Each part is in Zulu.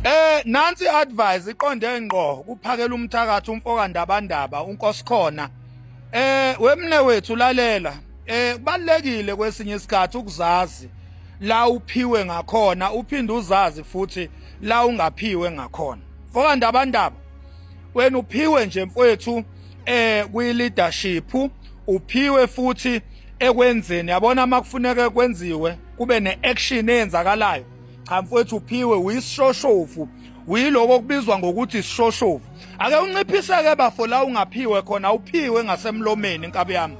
Eh nansi advice iqonde ngqo kuphakela umthakathi umfoka ndabandaba unkosikhona. Eh wemne wethu lalela. Eh kubalekile kwesinye isikhathi ukuzazi la uphiwe ngakhona uphinde uzazi futhi la ungaphiwe ngakhona. Mfoka ndabandaba wena uphiwe nje mfowethu eh kwi leadership uphiwe futhi ekwenzeni yabona makufuneka kwenziwe kube neaction eyenzakalayo cha mfowethu uphiwe uyisishoshovu uyiloko kubizwa ngokuthi isishoshovu ake unciphiseke bafo la ungaphiwe khona awuphiwe ngasemlomeni nkabi yami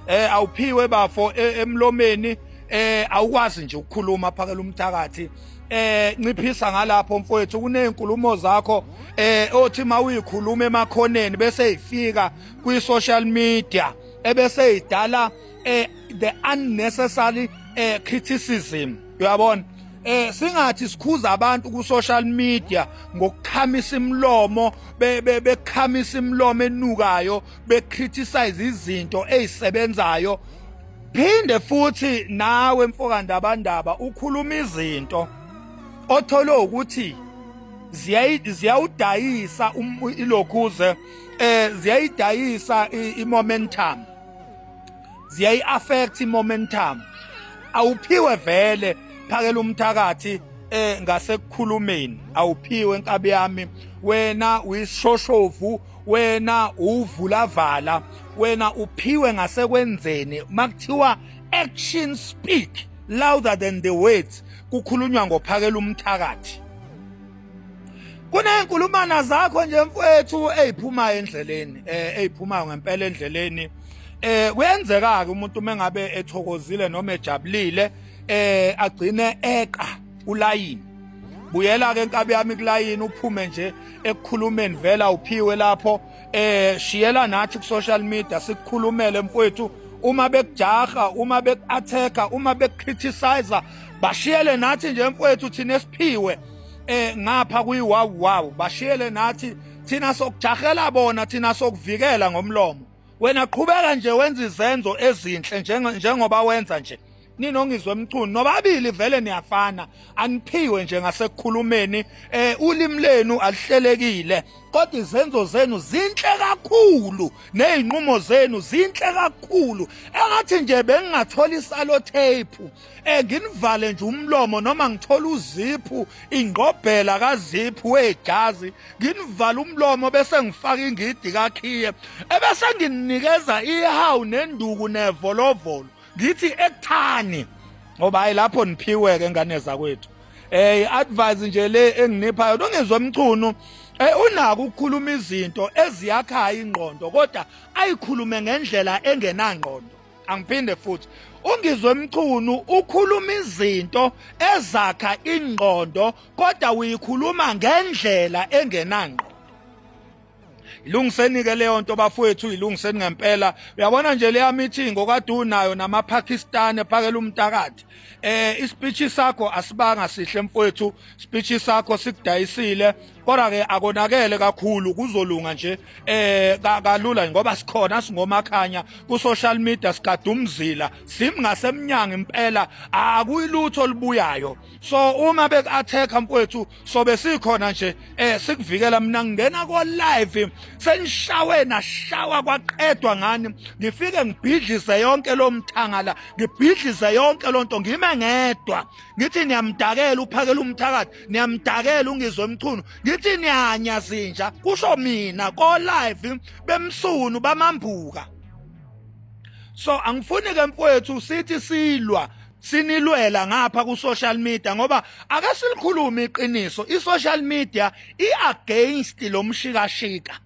eh awuphiwe bafo e, emlomeni eh awukwazi nje ukukhuluma phakela umthakathi eh nciphisa ngalapho mfowethu kunezinkulumo zakho eh othi mawuyikhuluma emakhoneni bese ifika kwi social media ebese idala eh the unnecessary eh criticism uyabona eh singathi sikhuza abantu ku social media ngokukhamisa imlomo bekhamisa imlomo enukayo be criticize izinto ezisebenzayo phinde futhi nawe mfokandabandaba ukhuluma izinto othole ukuthi ziyawudayisa um, ilokhuze eh ziyayidayisa i-momentum ziyayi affect momentum awuphiwe vele phakela umthakathi eh ngasekukhulumeni awuphiwe inkabi yami wena uyishoshoshovu wena uvulavala wena uphiwe ngasekwenzeni makuthiwa action speak louder than the words kukhulunywa ngophakela umthakathi kuney'nkulumana zakho nje mfowethu ey'phumayo endleleni eh ey'phumayo ngempela endleleni eh kuyenzeka-ke umuntu uma engabe ethokozile noma ejabulile eh agcine eqa ulayini buyela-ke enkabi yami kulayini uphume nje ekukhulumeni vela uphiwe lapho eh shiyela nathi ku-social media sikukhulumele mfowethu uma bekujaha uma beku-atheka uma beku-criticizer bashiyele nathi nje mfowethu thina esiphiwe eh ngapha kuyi wow wow bashiyele nathi thina sokujahela bona thina sokuvikela ngomlomo wena qhubeka nje wenza izenzo ezinhle njengoba wenza nje ninongizwe emchunu nobabili vele niyafana aniphiwe nje ngasekukhulumeni eh ulimi lenu alihlelekile kodwa izenzo zenu zinhle kakhulu nezinqumo zenu zinhle kakhulu engathi nje bengingathola isalo tape Eh nginivale nje umlomo noma ngithola uziphu ingqobhela kaziphu wejazi nginivale umlomo bese ngifaka ingidi kakhiye ebese nginikeza ihawu nenduku nevolovolo ngithi ekuthani ngoba hayi lapho niphiweke ngane zakwethu eh advise nje le enginipha yona ungezwe umchunu Eh unaka ukukhuluma izinto eziyakhayo ingqondo kodwa ayikhulume ngendlela engenangqondo angiphinde futhi ungizwe mchunu ukhuluma izinto ezakha ingqondo kodwa uyikhuluma ngendlela engenangqo ilungiseni ke leyo nto bafowethu ilungiseni ngempela uyabona nje leya meeting okade unayo namaPakistan ephakela umtakathi eh ispeech sakho asibanga sihle mfowethu speech sakho sikudayisile kodwa ke akonakele kakhulu kuzolunga nje eh kalula ngoba sikhona singomakhanya ku social media sikadumzila simngasemnyango impela akuyilutho olubuyayo so uma beku attack mfowethu sobe sikhona nje eh sikuvikela mina ngingena ko live senishawe nashawa kwaqedwa ngani ngifike ngibhidlize yonke lo mthangala ngibhidlize yonke lonto ngime ngedwa ngithi niyamdakela uphakela umthakathi niyamdakela ungizwe mchunu ngithi niyanya zinja kusho mina ko live bemsunu bamambuka so angifuni ke mfowethu sithi silwa sinilwela ngapha ku social media ngoba ake silikhulume iqiniso i social media i against lomshikashika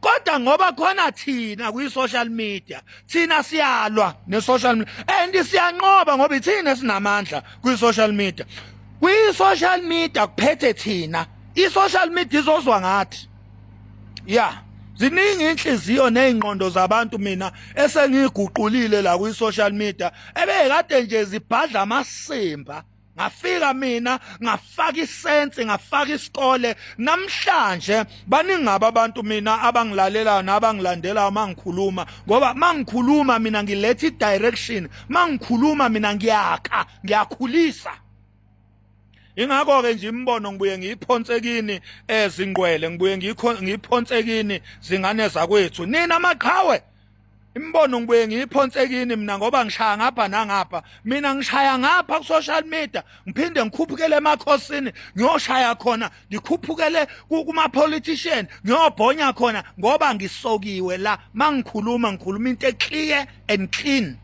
kodwa ngoba khona thina kwi-social media thina siyalwa ne-social media and siyanqoba ngoba ithina sinamandla kwi-social media kwi-social media kuphethe thina i-social media izozwa ngathi ya yeah. ziningi inhliziyo nezingqondo zabantu mina esengiguqulile la kwi-social media ebekade nje zibhadla amasimba ngafika mina ngafaka isensi ngafaka isikole namhlanje baningaba abantu mina abangilalelayo nabangilandelayo mangikhuluma ngoba mangikhuluma mina ngiletha i-direction mangikhuluma mina ngiyakha ngiyakhulisa ingakho ke nje imbono ngibuye ngiyiphonsekini ezingqwele ngibuye ngiyiphonsekini zingane zakwethu nina maqhawe Imibono ngibuye ngiyiphonse kini mina ngoba ngishaya ngapha nangapha. Mina ngishaya ngapha ku social media, ngiphinde ngikhuphukele emakhosini, ngiyoshaya khona, ngikhuphukele kuma politician, ngiyobhonya khona ngoba ngisokiwe la. Mangikhuluma ngikhuluma into eclear and clean.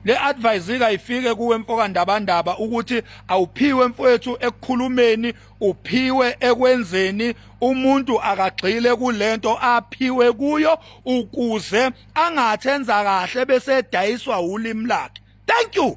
le advice kayifike kuwe mfoka ndabandaba ukuthi awuphiwe mfowethu ekukhulumeni uphiwe ekwenzeni umuntu akagxile kulento aphiwe kuyo ukuze angathenza kahle bese edayiswa ulimi lakhe thank you